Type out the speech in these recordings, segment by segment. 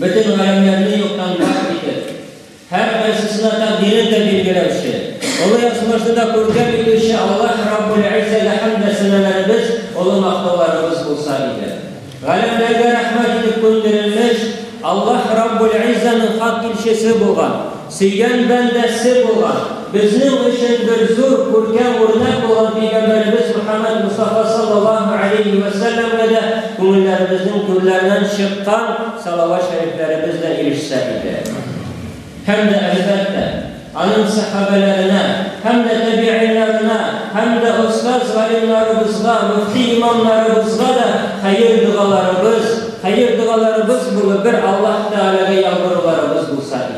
Бөтен галәмнәрне юктан бар итеп, һәркайсысына тәкъдирен дә билгеләүче, олы язмышны да күркәм итүче Аллаһ Раббул Әззәгә хәмд дә сәнәләребез, олы мактауларыбыз булса иде. Галәмнәргә рәхмәт итеп күндерелмеш Аллаһ Раббул Әззәнең хак илчесе булган, Сөйгән бәндәсе булган, безнең өчен бер зур, күркәм үрнәк булган Пәйгамбәребез Мөхәммәд Мостафа саллаллаһу алейһи вә сәлләмгә дә күңелләребезнең түрләреннән чыккан салават шәрифләребез дә ирешсә иде. Һәм дә, әлбәттә, аның сәхабәләренә, һәм дә тәбигыйннарына, һәм дә остаз-галимнарыбызга, мөфти-имамнарыбызга да хәер-догаларыбыз, хәер-догаларыбыз булып бер Аллаһ Тәгаләгә ялваруларыбыз булса иде.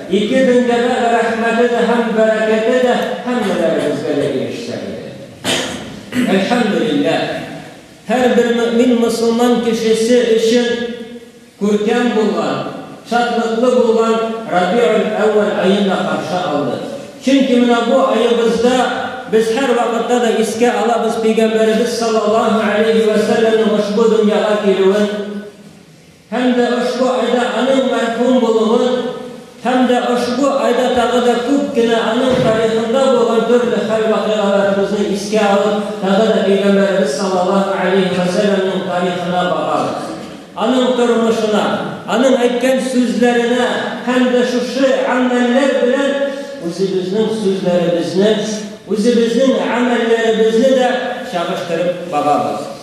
Ике дөньядагы рәхмәте дә һәм бәрәкәте дә һәммәләребезгә дә ирешсә иде. Әлхәмдүлилләһ, һәрбер мөэмин мөселман кешесе өчен күркәм булган, шатлыклы булган Рабиуль-әүвәл аен да каршы алды. Чөнки менә бу аебызда без һәрвакытта да искә алабыз Пәйгамбәребез саллаллаһу галәйһи вә сәлләмнең ошбу дөньяга килүен. Һәм дә ошбу айда аның мәрхүм булуын һәм дә ошбу айда тагы да күп кенә аның тарихында булган төрле хәл-вакыйгаларыбызны искә алып, тагы да Пәйгамбәребез саллаллаһу галәйһи вә сәлләмнең тарихына багабыз. Аның тормышына, аның әйткән сүзләренә һәм дә шушы гамәлләр белән үзебезнең сүзләребезне, үзебезнең гамәлләребезне дә чагыштырып багабыз.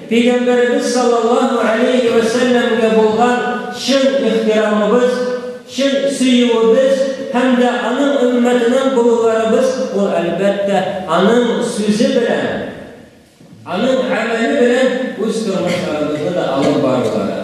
Пәйгамбәребез саллаллаһу әләйһи вә сәлләмгә булган чын ихтирамыбыз, чын сөюебез һәм дә аның өммәтеннән булуларыбыз, ул, әлбәттә, аның сүзе белән, аның гамәле белән үз тормышларыбызны да алып барулары.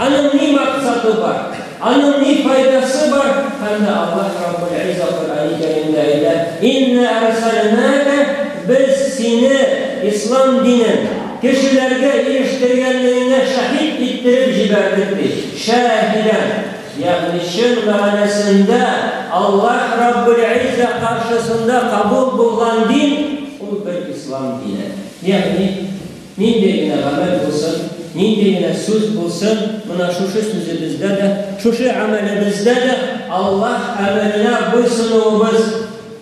Аның ни максаты бар, аның ни файдасы бар, һәм дә Аллаһ Раббул Изза Коръәни Кәримдә әйтә, Иннә әрсәлнәкә, без сине, ислам динен, кешеләргә ирештергәнлегеңә шаһит иттереп җибәрдек, ди. Шаһидән. Ягъни чын мәгънәсендә Аллаһ Раббул Изза каршысында кабул булган дин, ул бер ислам дине. Ягъни. Нинди генә гамәл булсын, нинди генә сүз булсын, менә шушы сүзебездә дә, шушы гамәлебездә дә Аллаһ әмеренә буйсынуыбыз,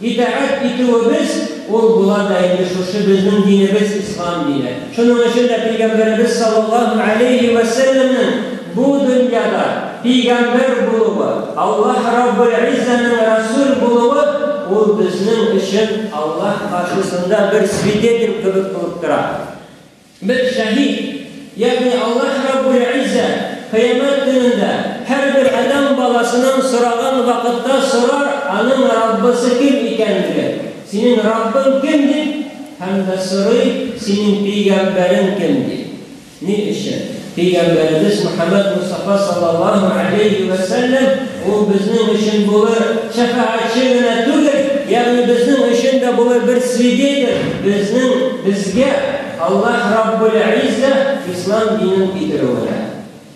итәгать итүебез, ул була да инде шушы безнең динебез, ислам дине. Шуның өчен дә Пәйгамбәребез салләллаһу галәйһи вә сәлләмнең Бу дөньяда пигамбәр булуы, Аллаһ Раббелгыйззәнең рәсүл булуы, ул безнең өчен Аллаһ каршысында бер свидетель кебек булып тора. Бер шәһит, ягъни Аллаһ Раббелгыйззә Кыямәт көнендә һәрбер адәм баласының сораган вакытта сорар аның Раббысы кем икәнлеген, Синең Раббың кем? дип, һәм дә сорый, Синең пигамбәрең кем? дип. Ни өчен? Пәйгамбәребез Мөхәммәд Мостафа саллаллаһу галәйһи вә сәлләм, ул безнең өчен булыр шәфәгатьче генә түгел, ягъни безнең өчен дә булыр бер свидетель, безнең, безгә Аллаһ Раббул-Изза Ислам динен китерүенә.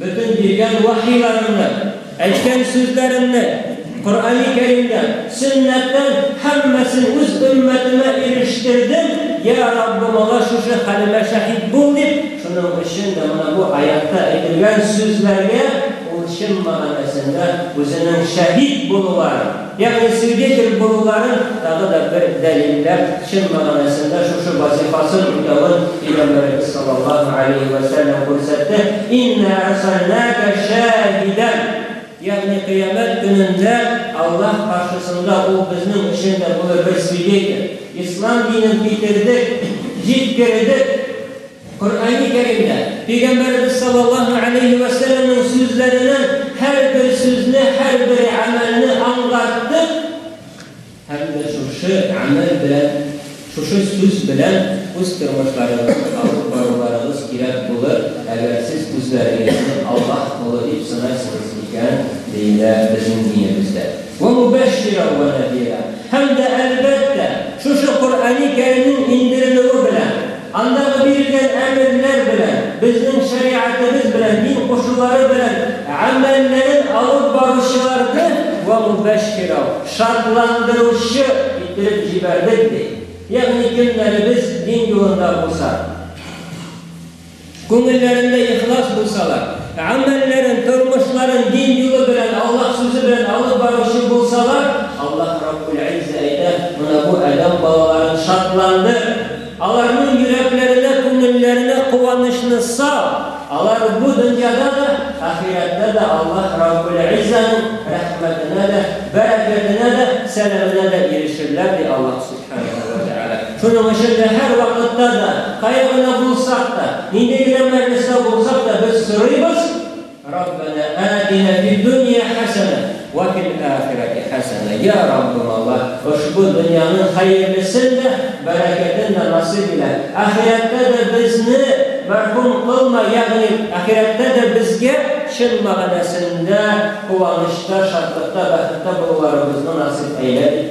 Бөтен биргән вәхиләреңне, әйткән сүзләреңне, Коръәни Кәримдән, сөннәттән һәммәсен үз өммәтемә ирештердем, йә Раббым, алар шушы хәлемә шәһит бул, дип, шуның өчен дә менә бу аятта әйтелгән сүзләргә ул чын мәгънәсендә үзенең шәһит булуларын, Ягъни свидетель булуларын тагы да бер дәлилләп, чын мәгънәсендә шушы вазифасын үтәвен Пәйгамбәребез саллаллаһу галәйһи вә сәлләм күрсәтте, Иннә әрсәлнәкә шаһидән, ягъни кыямәт көнендә Аллаһ каршысында ул безнең өчен дә булыр бер свидетель. Ислам динен китердек, җиткердек. Коръәни Кәримдә Пәйгамбәребез саллаллаһу галәйһи вә сәлләмнең сүзләренең һәрбер сүзне, һәрбер гамәлне аңлаттык һәм дә шушы гамәл белән, шушы сүз белән үз тормышларыгызны алып баруларыгыз кирәк булыр, әгәр сез үзләрегезне Аллаһ колы дип санайсыгыз икән, диелә безнең динебездә. Вә мубәшширән вә нәзирән. Һәм дә, әлбәттә, шушы Коръәни Кәримнең иңдерелүе белән, Андагы бирелгән әмерләр белән, безнең шәригатебез белән дин кушулары белән гамәлләрен алып баручыларны вә мубәшширау, шатландыручы, иттереп җибәрдек, ди. Ягъни кемнәребез дин юлында булса. Күңелләрендә ихлас булсалар, гамәлләрен, тормышларын дин юлы белән, Аллаһ сүзе белән алып баручы булсалар, Аллаһ Раббул-Иззә әйтә, Менә бу адәм балаларын шатландыр, аларның йөрәкләренә, күңелләренә куанычны сал, алар бу дөньяда да, ахирәттә дә Аллаһ Раббул-Иззәнең рәхмәтенә дә, бәрәкәтенә дә, сәламенә дә ирешерләр, ди Аллаһ Сүзе. Шуның өчен дә һәр вакытта да, кая гына булсак та, нинди генә мәҗлестә булсак та, без сорыйбыз, Раббана атина фи дунья хәсәнә вә фил ахирати хәсәнә. Йа Раббым Аллаһ, ошбу дөньяның хәерлесен дә, бәрәкәтен дә насыйп илә. Ахирәттә дә безне мәхрүм кылма, ягъни ахирәттә дә безгә чын мәгънәсендә куанычта, шатлыкта, бәхеттә булуларыбызны насыйп әйлә, дип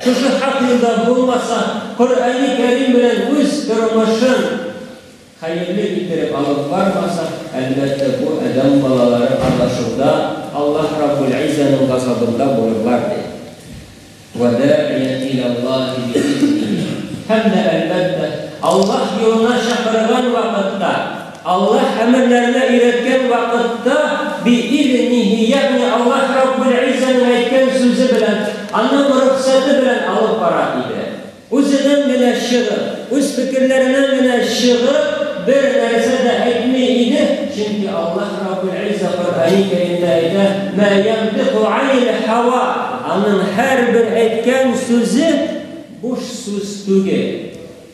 Кызы хакында булмаса, Коръәни Кәрим белән үз тормышын хәерле иттереп алып бармаса, әлбәттә, бу адәм балалары адашуда, Аллаһ Раббул-Иззаның газабында булырлар, ди. Вә да'ият иләллаһи би'изниһи. Һәм дә, әлбәттә, Аллаһ юлына чакырган вакытта. Аллаһ әмерләренә өйрәткән вакытта, биизниһи, ягъни Аллаһ Раббул-Иззаның әйткән сүзе белән, Аның рөхсәте белән алып бара иде. Үзенең генә чыгып, үз фикерләренең генә чыгып бер нәрсә дә әйтми иде, чөнки Аллаһ Раббул-Изза Коръәни Кәримдә әйтә, Мә янтыйку анил-һәва, Аның һәрбер әйткән сүзе буш сүз түгел.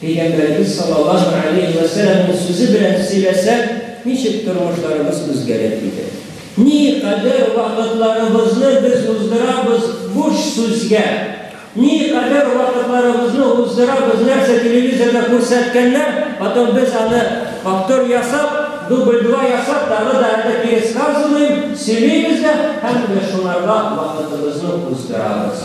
Пәйгамбәребез саллаллаһу галәйһи вә сәламнең сүзе белән сөйләсәк, ничек тормышларыбыз үзгәрер иде? Никадәр вакытларыбызны без уздырабыз буш сүзгә, никадәр вакытларыбызны уздырабыз, нәрсә телевизорда күрсәткәннәр, потом без аны повтор ясап, дубль два ясап, тагы да әллә пересказываем, сөйлибез дә һәм менә шуларга вакытыбызны уздырабыз.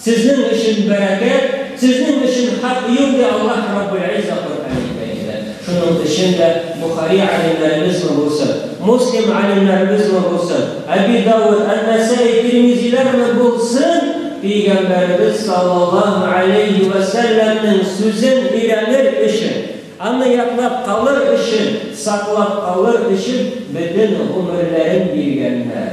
Сезнең өчен бәрәкәт, сезнең өчен хак юк, ди Аллаһ Раббул-Изза Коръәнул Кәримдә. Шуның өчен дә Бохари галимнәребезме булсын, Муслим галимнәребезме булсын, Әби Дауд, Ән-Нәсаи, Тирмизиләрме булсын, Пәйгамбәребез саллаллаһу галәйһи вә сәлләмнең сүзен өйрәнер өчен, аны ятлап калыр өчен, саклап калыр өчен бөтен гомерләрен биргәннәр.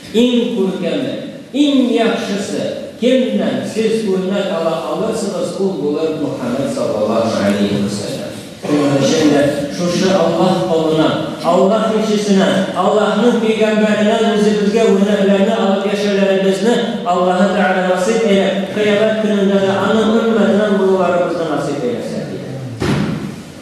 Иң күркәме, иң яхшысы, кемнән сез үрнәк ала алырсыгыз, ул булыр Мөхәммәд саллаллаһу галәйһи вә сәлләм. Шуның өчен дә шушы Аллаһ колына, Аллаһ илчесенә, Аллаһның пәйгамбәреннән үзебезгә үрнәкләрне алып яшәүләребезне Аллаһы Тәгалә насыйп әйләп, кыямәт көнендә дә аның өммәтеннән булуларыбызны насыйп әйләсен, диде.